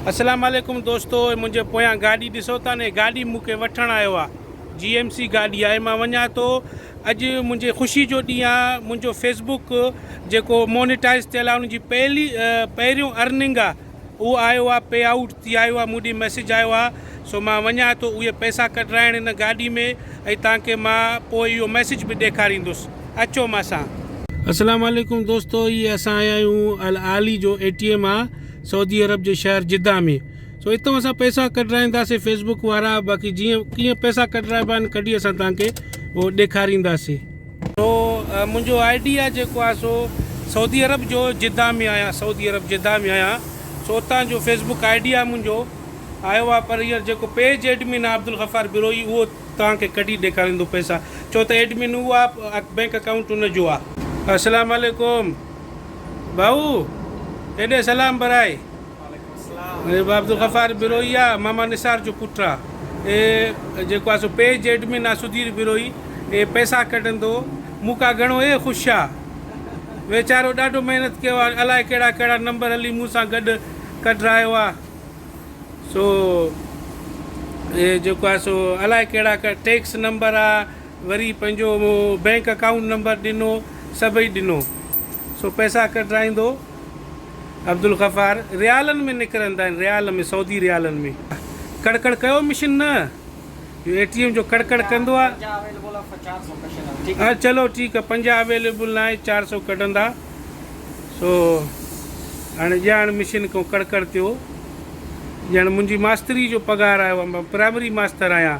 اسلام عليڪم دوستو هي منهنجي پويان گاڏي ڏسو ٿا ني گاڏي مون کي وٺڻ آيو آ جي ايم سي گاڏي آهي مان وڃان ٿو اڄ منهنجي خوشي جو ڏينهن آ منهنجو فيس بوڪ جيڪو مونيٽائز ٿيل آ ان جي پهلي پهريون ارننگ آ اهو آيو آ پي آئوٽ ٿي آيو آ مون ڏي ميسج آيو آ سو مان وڃان ٿو اهي پئسا ڪڍرائڻ ان گاڏي ۾ ۽ تان کي مان پوء اهو ميسج به ڏيکاريندس اچو مان سان. اسلام عليڪم دوستو هي اسان آيا آهيون العالي جو اي ٽي ايم آ. سعودي عرب جي شهر جده ۾ سو اتو اسان پئسا ڪڍرائينداسي فيسبڪ وارا باقي جيئن ڪيئن پئسا ڪڍرائبا آهن ڪڍي اسان توهان کي هو ڏيکارينداسي سو منهنجو آئي ڊي آهي جيڪو آهي سو سعودي عرب جو جده ۾ آهيان سعودي عرب جده ۾ آهيان سو اتان جو فيسبڪ آئي ڊي آهي منهنجو آيو آهي پر هينئر جيڪو پيج ايڊمن آهي عبدالغفار بروهي اهو توهان کي ڪڍي ڏيکاريندو پئسا ڇو ته ايڊمن اهو آهي بينڪ اڪائونٽ ان جو آهي. اسلام عليڪم. ڀائو! ڪيڏي سلام برائي. بابا عبدالغفار بروهي آ ماما نثار جو پٽ آ اي جيڪو آ سو پيج ايڊمن آ سڌير بروهي اي پئسا ڪڍندو مون کان گهڻو اي خوش آ ويچارو ڏاڍو محنت ڪيو آ الائي ڪهڙا ڪهڙا نمبر هلي مون سان گڏ ڪڍرايو آ سو اي جيڪو آ سو الائي ڪهڙا ڪهڙا ٽيڪس نمبر آ وري پنهنجو بئنڪ اڪائونٽ نمبر ڏنو سڀئي ڏنو سو پئسا ڪڍرائيندو عبدالغفار ريالن ۾ نڪرندا آهن ريال ۾ سعودي ريالن ۾ ڪڙ ڪڙ ڪيو مشين نه جو اي ٽي ايم جو ڪڙ ڪڙ ڪندو آ چلو ٺيڪ آ پنجاهه اويليبل ناهي چار سو ڪڍندا سو هاڻي ڄاڻ مشين کان ڪڙ ڪڙ ٿيو ڄاڻ منهنجي ماستري جو پگهار آيو آ مان پرائمري ماستر آهيان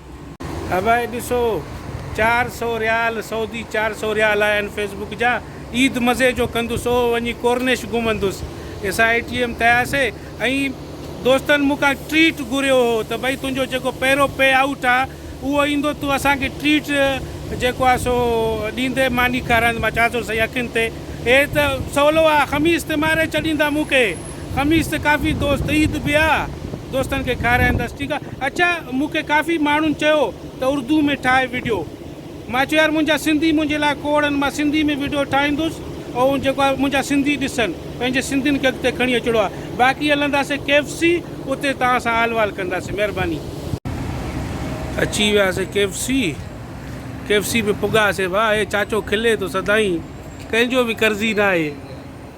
ابائي ڏسو چار سئو ريال سعودي چار سئو ريال آهن فيس بوڪ جا عيد مزي جو ڪندس او وڃي ڪورنش گهمندس اسان اي ٽي ايم تي آياسي ۽ دوستن مون کان ٽريٽ گهريو هو ته بئي تنهنجو جيڪو پهريون پي آئوٽ آ اهو ايندو تون اسان کي ٽريٽ جيڪو آ سو ڏيندي ماني کارائيندي مان چياسون سائين اکين تي اي ته سولو آ خميس تي ماري ڇڏيندا مون کي. خميس تي ڪافي دوست عيد به آ دوستن کي کارائيندس ٺيڪ آ اڇا مون کي ڪافي ماڻهن چيو ته اردو ۾ ٺاهه وڊيو مان چيو يار منهنجا سنڌي منهنجي لاء کوڙ ان مان سنڌي ۾ وڊيو ٺاهيندس ۽ جيڪو آ منهنجا سنڌي ڏسن پنهنجي سنڌين کي اڳتي کڻي اچڻو آ باقي هلنداسي ڪي ايف سي اتي توهان سان حال وال ڪنداسي مهرباني. اچي وياسي K F C K F C به پڳاسي ڀا هي چاچو کلي ٿو سدائين ڪنهن جو به قرضي ناهي.